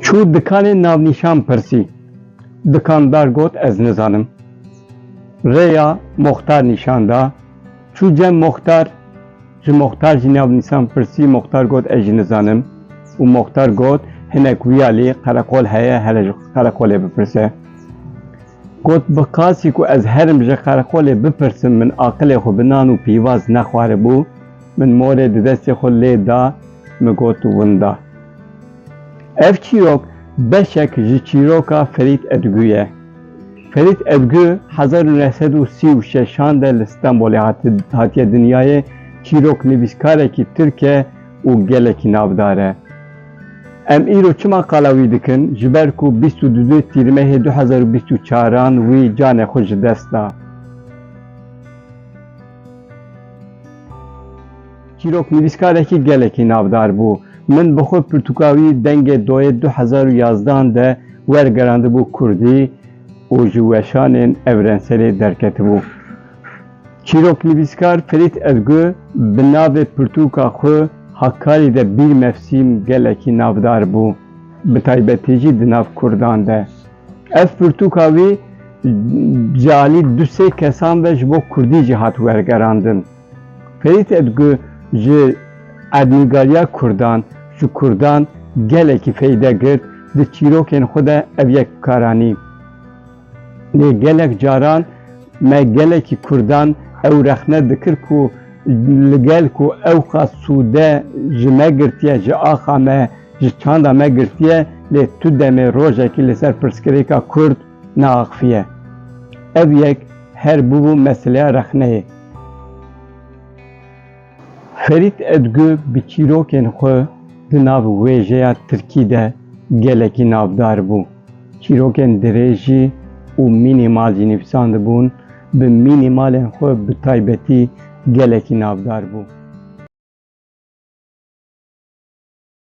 Çû dikanê navnîşan pirsî. Dikandar got ez nizanim. Rêya moxtar nîşan da. Çû cem moxtar, ji moxtar jî navnîşan pirsî, moxtar got ez jî nizanim û moxtar got hinek wîyalî qereqol heye here ji qereqolê bipirse. Got, Bi qasî ku ez herim ji qereqolê bipirsim min aqilê xwe bi nan û pîvaz nexwaribû, min morê di destê xwe lê da, min got winda. Ev çîrok beşek ji çîroka Ferît Edgû ye. Ferît Edgû hezar û neh sed û sî û şeşan de li Stenbolê hatiye dinyayê, çîroknivîskarekî Tirk e, û gelekî navdar e. Em îro çima qala wî dikin? Ji ber ku bîst û du Tîrmehê du hezar û bîst û çar an wî canê xwe ji dest da. Çîrok nivîskarekî gelekî navdar bû. Min bi xwe pirtûka wî dengê doyê du hezar û yazdeh an de wergerandibû kurdî û ji weşanên Ewrenselê derketibû. Çîroknivîskar Ferît Edgu bi navê pirtûka xwe Hakkari de bîr mefsîm gelekî navdar bû, bi taybetî jî di nav kurdan de. Ev pirtûka wî di alî du sê kesan ve ji bo kurdî jî hat wergerandin. Ferît Edgu ji erdnûgariya kurdan, ji kurdan gelekî feyde girt, di çîrokên xwe de ev yek bikaranî. Lê gelek caran me gelekî Kurdan ew rexne dikir ku li gel ku ew qas sûde ji me girtiye, ji axa me, ji çanda me girtiye lê tu demê rojekî li ser pirsgirêka Kurd neaxifiye. Ev yek her bûbû meseleya rexneyê. Ferît Edgu bi çîrokên xwe di nav wêjeya tirkî de gelekî navdar bû. Çîrokên dirêjî û mînîmal jî nivîsandibûn, bi mînîmalên xwe bi taybetî gelekî navdar bû.